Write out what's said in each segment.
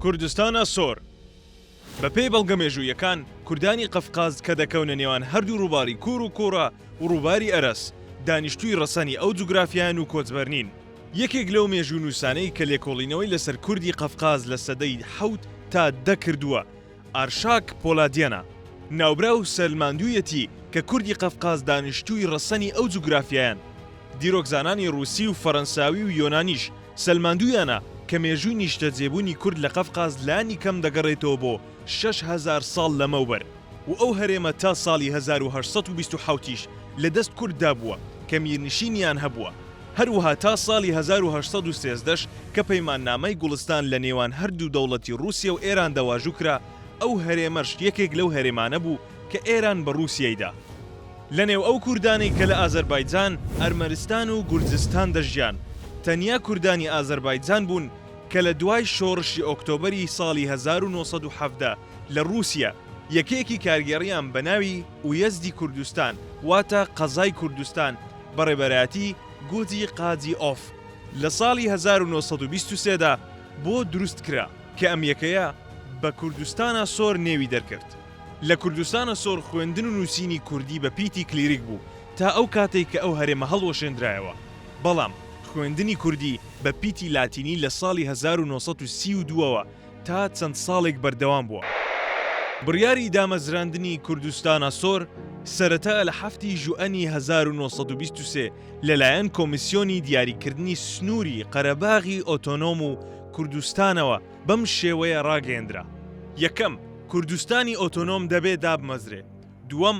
کوردستان ئەسۆر بە پێی بەڵگە مێژوویەکان کوردانی قەفقاز کە دەکەونە نێوان هەردوو ڕووباری کوور و کوڕە و ڕووباری ئەرەس دانیشتووی ڕەسەنی ئەو جوگرافیان و کۆچبەرنین یەکێک لەو مێژوونووسانەی کە لێکۆڵینەوەی لەسەر کوردی قەفقاز لە سەدەی حەوت تا دە کردووە، ئارشاک پۆلادیەنە، ناوبراو سەلماندوویەتی کە کوردی قەفقاز دانیشتووی ڕەسەنی ئەو جوگرافیایەن. دیرۆکزانانی ڕووسی و فەرەنساوی و یۆنانیش سەلماندوویانە کە مێژووی نیشتەجێبوونی کورد لە قەفقاز لانی کەم دەگەڕێتەوە بۆ شەش هەزار ساڵ لەمەوبەر. و ئەو هەرێمە تا ساڵی هەزار و هەشت سەد و بیست و حەوت یش لە دەست کورد دا بووە کە میرنشینیان هەبووە، هەروەها تا ساڵی هەزار و هەشت سەد و سێزدە ش کە پەیماننامەی گوڵستان لە نێوان هەر دوو دەوڵەتی ڕووسیە و ئێران دا واژوو کرا، ئەو هەرێمەش یەکێک لەو هەرێمانە بوو کە ئێران بە ڕووسیەی دا. لە نێو ئەو کوردانەی کە لە ئازەربایجان، ئەرمەنستان و گورجستان دەژیان، تەنیا کوردانی ئازەربایجان بوون کە لە دوای شۆڕشی ئۆکتۆبەری ساڵی هەزار و نۆ سەد و حەڤدە، لە ڕووسیە یەکەیەکی کارگێڕیان بە ناوی ئویەزدی کوردستان واتە قەزای کوردستان بە ڕێبەرایەتی گۆجی قاجی ئۆف لە ساڵی هەزار و نۆ سەد و بیست و سێ دا بۆ دروست کرا کە ئەم یەکەیە بە کوردستانە سۆر نێوی دەرکرد. لە کوردستانە سۆر خوێندن و نووسینی کوردی بە پیتی کلیریک بوو تا ئەو کاتەی کە ئەو هەرێمە هەڵوەشێندرایەوە بەڵام خوێندنی کوردی بە پیتی لاتینی لە ساڵی هەزار و نۆ سەد و سی و دوو ەوە تا چەند ساڵێک بەردەوام بووە. بڕیاری دامەزراندنی کوردستان-ئاسۆر سەرەتا لە حەفتی ژوئەنی هەزار و نۆ سەد و بیست و سێ لەلایەن کۆمیسیۆنی دیاریکردنی سنووری قەرەباغی ئۆتۆنۆم و کوردستانەوە بەم شێوەیە ڕاگەیەندرا، یەکەم، کوردستانی ئۆتۆنۆم دەبێ دابمەزرێ، دووەم،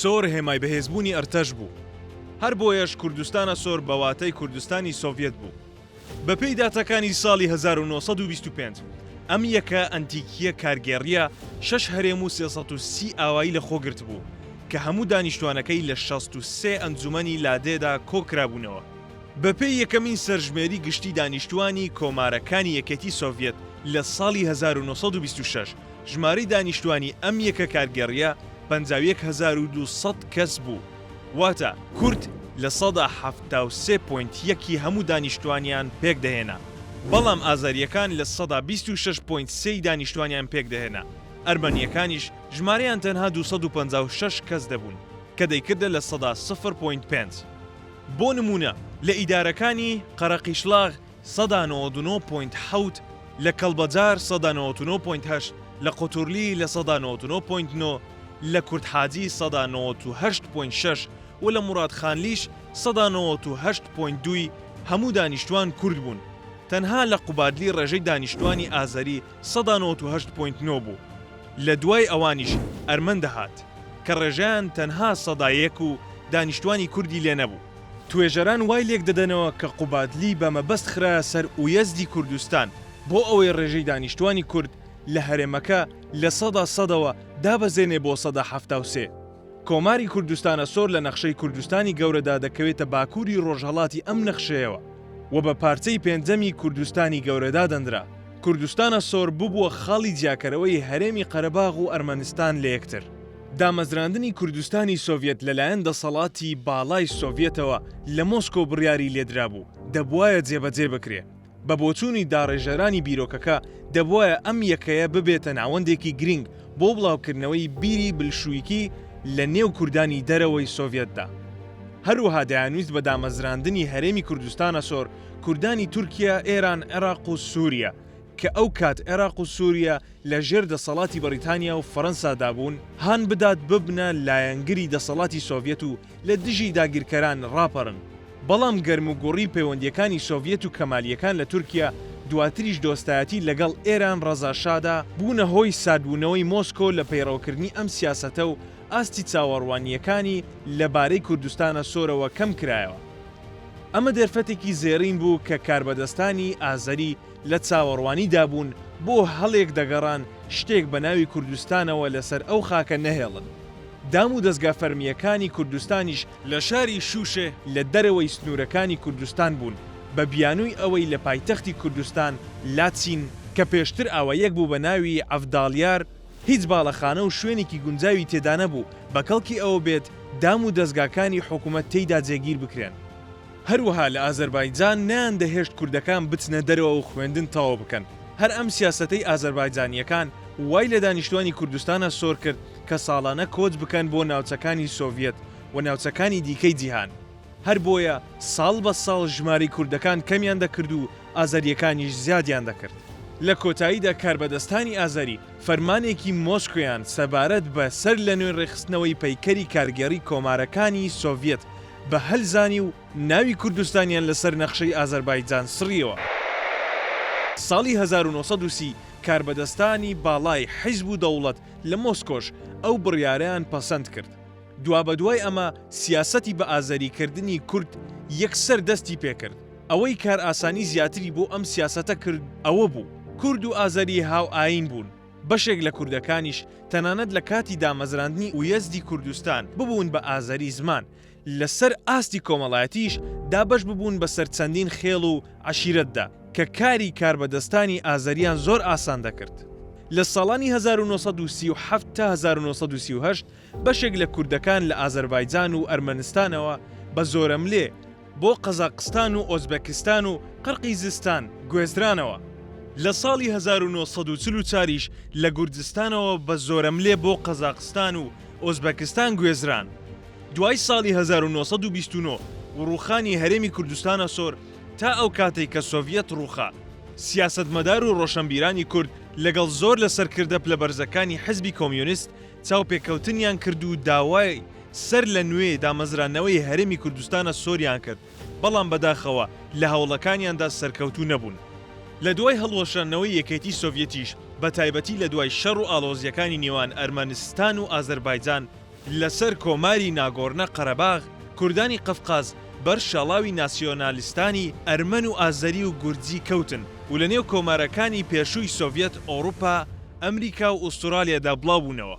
سۆر هێمای بەهێزبوونی ئەرتەش بوو. هەر بۆیەش کوردستانە سۆر بە واتەی کوردستانی سۆڤیەت بوو. بە پێی داتاکانی ساڵی هەزار و نۆ سەد و بیست و پێنج ئەم یەکە ئەنتیکییە کارگێڕییە شەش هەرێم و سێ سەد و سی ئاوایی لە خۆ گرتبوو کە هەموو دانیشتوانەکەی لە شەست و سێ ئەنجومەنی لادێدا کۆ کرابوونەوە. بە پێی یەکەمین سەرژمێری گشتی دانیشتوانی کۆمارەکانی یەکێتی سۆڤیەت لە ساڵی هەزار و نۆ سەد و بیست و شەش ژمارەی دانیشتوانی ئەم یەکە کارگێڕییە پەنجا و یەک هەزار و دوو سەد کەس بوو، واتە کورد لە سەدا حەفتا و سێ پۆینت یەک ی هەموو دانیشتوانیان پێکدەهێنا، بەڵام ئازەرییەکان لە سەدا بیست و شەش پۆینت سێ ی دانیشتوانیان پێکدەهێنا، ئەرمەنییەکانیش ژمارەیان تەنها دوو سەد و پەنجا و شەش کەس دەبوون، کە دەیکردە لە سەدا سفر پۆینت پێنج. بۆ نموونە لە ئیدارەکانی قەرەقیشڵاغ سەدا نەوەد و نۆ پۆینت حەوت لە کەڵبەجار سەدا نەوەد و نۆ پۆینت هەشت لە قوتورلی لە سەدا نەوەد و نۆ پۆینت نۆ لە کوردحاجی سەدا نەوەد و هەشت پۆینت شەش و لە موڕادخانلیش سەدا نەوەد و هەشت پۆینت دوو ی هەموو دانیشتوان کورد بوون تەنها لە قوبادلی ڕێژەی دانیشتوانی ئازەری سەدا نەوەد و هەشت پۆینت نۆ بوو لە دوای ئەوانیش ئەرمەن دەهات کە ڕێژەیان تەنها سەدا یەک و دانیشتوانی کوردی لێ نەبوو. توێژەران وای لێک دەدەنەوە کە قوبادلی بە مەبەست خرایە سەر ئویەزدی کوردستان بۆ ئەوەی ڕێژەی دانیشتوانی کورد لە هەرێمەکە لە سەدا سەدەوە دابەزێنێ بۆ سەدا حەفتا و سێ. کۆماری کوردستانە سۆر لە نەخشەی کوردستانی گەورەدا دەکەوێتە باکووری ڕۆژهەڵاتی ئەم نەخشەیەوە و بە پارچەی پێنجەمی کوردستانی گەورە دادەنرا. کوردستانە سۆر ببووە خاڵی جیاکەرەوەی هەرێمی قەرەباغ و ئەرمەنستان لە یەکتر. دامەزراندنی کوردستانی سۆڤیەت لەلایەن دەسەڵاتی باڵای سۆڤیەتەوە لە مۆسکۆ بڕیاری لێدرابوو، دەبوایە جێبەجێ بکرێ. بە بۆچوونی داڕێژەرانی بیرۆکەکە، دەبوایە ئەم یەکەیە ببێتە ناوەندێکی گرینگ بۆ بڵاوکردنەوەی بیری بلشویکی لە نێو کوردانی دەرەوەی سۆڤیەتدا. هەروەها دەیانویست بە دامەزراندنی هەرێمی کوردستانە سۆر کوردانی تورکیە، ئێران، عێراق و سووریە، کە ئەو کات عێراق و سووریە لە ژێر دەسەڵاتی بەڕیتانیا و فەرەنسا دا بوون، هان بدات ببنە لایەنگری دەسەڵاتی سۆڤیەت و لە دژی داگیرکەران ڕاپەرن. بەڵام گەرموگوڕی پەیوەندییەکانی سۆڤیەت و کەمالییەکان لە تورکیە، دواتریش دۆستایەتی لەگەڵ ئێران ڕەزا شا دا، بوونە هۆی ساردبوونەوەی مۆسکۆ لە پەیڕەوکردنی ئەم سیاسەتە و ئاستی چاوەڕوانییەکانی لە بارەی کوردستانە سۆرەوە کەم کرایەوە. ئەمە دەرفەتێکی زێڕین بوو کە کاربەدەستانی ئازەری لە چاوەڕوانیدا بوون، بۆ هەڵێک دەگەڕان شتێک بە ناوی کوردستانەوە لەسەر ئەو خاکە نەهێڵن. دام و دەزگا فەرمییەکانی کوردستانیش، لە شاری شووشێ لە دەرەوەی سنوورەکانی کوردستان بوون بە بیانووی ئەوەی لە پایتەختی کوردستان، لاچین، کە پێشتر ئاوایەک بوو بە ناوی عەڤداڵیار، هیچ باڵەخانە و شوێنێکی گونجاوی تێدانەبوو بە کەڵکی ئەوە بێت دام و دەزگاکانی حکومەت تێیدا جێگیر بکرێن. هەروەها لە ئازەربایجان نەیاندەهێشت کوردەکان بچنە دەرەوە و خوێندن تەواو بکەن. هەر ئەم سیاسەتەی ئازەربایجانییەکان وای لە دانیشتوانی کوردستانە سۆر کرد کە ساڵانە کۆچ بکەن بۆ ناوچەکانی سۆڤیەت و ناوچەکانی دیکەی جیهان. هەر بۆیە ساڵ بە ساڵ ژمارەی کوردەکان کەمیان دەکرد و ئازەرییەکانیش زیادیان دەکرد. لە کۆتاییدا کاربەدەستانی ئازەری فەرمانێکی مۆسکۆیان سەبارەت بە سەر لەنوێ ڕێکخستنەوەی پەیکەری کارگێڕی کۆمارەکانی سۆڤیەت بە هەل زانی و ناوی کوردستانیان لەسەر نەخشەی ئازەربایجان سڕییەوە. ساڵی هەزار و نۆ سەد و سی کاربەدەستانی باڵای حیزب و دەوڵەت لە مۆسکۆش ئەو بڕیارەیان پەسەند کرد. دوابەدوای ئەمە سیاسەتی بە ئازەری کردنی کورد یەکسەر دەستی پێکرد. ئەوەی کارئاسانی زیاتری بۆ ئەم سیاسەتە کرد ئەوە بوو، کورد و ئازەری هاوئایین بوون، بەشێک لە کوردەکانیش تەنانەت لە کاتی دامەزراندنی ئویەزدی کوردستان ببوون بە ئازەری زمان، لە سەر ئاستی کۆمەڵایەتیش دابەش ببوون بە سەر چەندین خێڵ و عەشیرەتدا، کە کاری کاربەدەستانی ئازەریان زۆر ئاسان دەکرد. لە ساڵانی هەزار و نۆ سەد و سی و حەفت تا هەزار و نۆ سەد و سی و هەشت بەشێک لە کوردەکان لە ئازەربایجان و ئەرمەنستانەوە بە زۆرەملێ بۆ قەزاقستان و ئۆزبەکستان و قرقیزستان گوێزرانەوە. لە ساڵی هەزار و نۆ سەد و چل و چوار یش لە گوردستانەوە بە زۆرەملێ بۆ قەزاقستان و ئۆزبەکستان گوێزران. دوای ساڵی هەزار و نۆ سەد و بیست و نۆ و ڕووخانی هەرێمی کوردستانەسۆر تا ئەو کاتەی کە سۆڤیەت ڕووخا، سیاسەتمەدار و ڕۆشەنبیرانی کورد لەگەڵ زۆر لە سەرکردە پلە بەرزەکانی حزبی کۆمیونیست چاوپێکەوتنیان کرد و داوای سەر لە نوێ دامەزرانەوەی هەرێمی کوردستانە سۆریان کرد، بەڵام بەداخەوە لە هەوڵەکانیاندا سەرکەوتوو نەبوون. لە دوای هەڵوەشانەوەی یەکێتی سۆڤیەتیش، بە تایبەتی لە دوای شەڕ و ئاڵۆزییەکانی نێوان ئەرمەنستان و ئازەربایجان، لەسەر کۆماری ناگۆرنە قەرەباغ، کوردانی قەفقاز بەر شاڵاوی ناسیۆنالیستانی ئەرمەن و ئازەری و گورجی کەوتن و لە نێو کۆمارەکانی پێشووی سۆڤیەت، ئەوروپا، ئەمریکا و ئوستورالیادا بڵاو بوونەوە.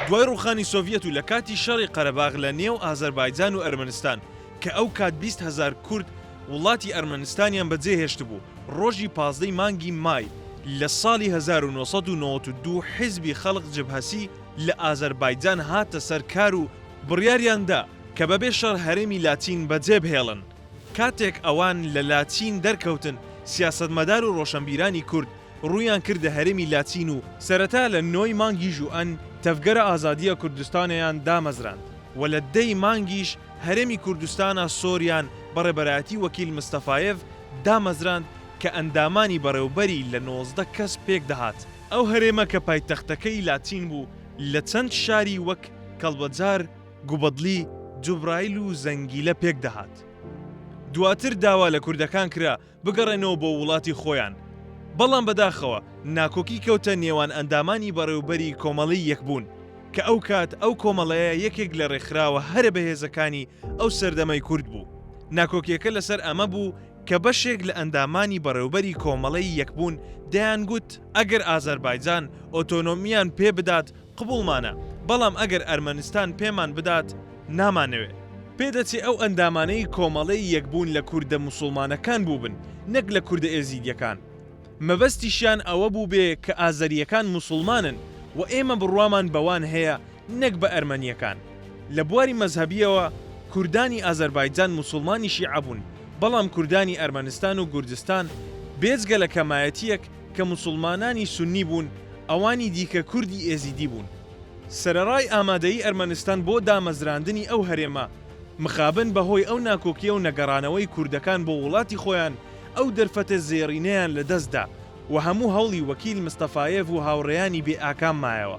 دوای ڕووخانی سۆڤیەت و لە کاتی شەڕی قەرەباغ لە نێو ئازەربایجان و ئەرمەنستان کە ئەو کات بیست هەزار کورد وڵاتی ئەرمەنستانیان بە جێ هێشتبوو، ڕۆژی پازدە ی مانگی مای لە ساڵی هەزار و نۆ سەد و نەوەد و دوو حیزبی خەڵق جبهەسی لە ئازەربایجان هاتە سەر کار و بڕیاریان دا کە بەبێ شەڕ هەرێمی لاتین بەجێبهێڵن. کاتێک ئەوان لە لاتین دەرکەوتن، سیاسەتمەدار و ڕۆشەنبیرانی کورد ڕوویان کردە هەرێمی لاتین و، سەرەتا لە نۆی مانگی ژوئەن تەڤگەرە ئازادییە کوردستانەیان دامەزراند و لە دە ی مانگیش هەرێمی کوردستانە سۆریان بە ڕێبەرایەتی وەکیل مستەفایێڤ دامەزراند کە ئەندامانی بەڕێوبەری لە نۆزدە کەس پێک دەهات. ئەو هەرێمە کە پایتەختەکەی لاتین بوو لە چەند شاری وەک کەڵبەجار، گوبەدلی جوبرایل و زەنگیلە پێک دەهات. دواتر داوا لە کوردەکان کرا بگەڕێنەوە بۆ وڵاتی خۆیان، بەڵام بەداخەوە ناکۆکی کەوتە نێوان ئەندامانی بەڕێوبەری کۆمەڵەی یەکبوون، کە ئەو کات ئەو کۆمەڵەیە یەکێک لە ڕێکخراوە هەرە بەهێزەکانی ئەو سەردەمەی کورد بوو. ناکۆکیەکە لەسەر ئەمە بوو کە بەشێک لە ئەندامانی بەڕێوبەری کۆمەڵەی یەکبوون دەیانگوت ئەگەر ئازەربایجان ئۆتۆنۆمییان پێ بدات، قبوڵمانە، بەڵام ئەگەر ئەرمەنستان پێمان بدات نامانەوێ. پێدەچێ ئەو ئەندامانەی کۆمەڵەی یەکبوون لە کوردە موسوڵمانەکان بووبن نەک لە کوردە ئێزیدیەکان. مەبەستیشیان ئەوە بووبێ کە ئازەریەکان موسوڵمانن و ئێمە بڕوامان بەوان هەیە نەک بە ئەرمەنیەکان. لە بواری مەزهەبیەوە کوردانی ئازەربایجان موسوڵمانی شیعە بوون بەڵام کوردانی ئەرمەنستان و گوردستان بێجگە لە کەمایەتیەک کە موسوڵمانانی سوننی بوون، ئەوانی دیکە کوردی ئێزیدی بوون. سەرەڕای ئامادەیی ئەرمەنستان بۆ دامەزراندنی ئەو هەرێمە، مخابن بە هۆی ئەو ناکۆکییە و نەگەڕانەوەی کوردەکان بۆ وڵاتی خۆیان ئەو دەرفەتە زێڕینەیان لە دەست دا و هەموو هەوڵی وەکیل مستەفایێڤ و هاوڕێیانی بێ ئاکام مایەوە.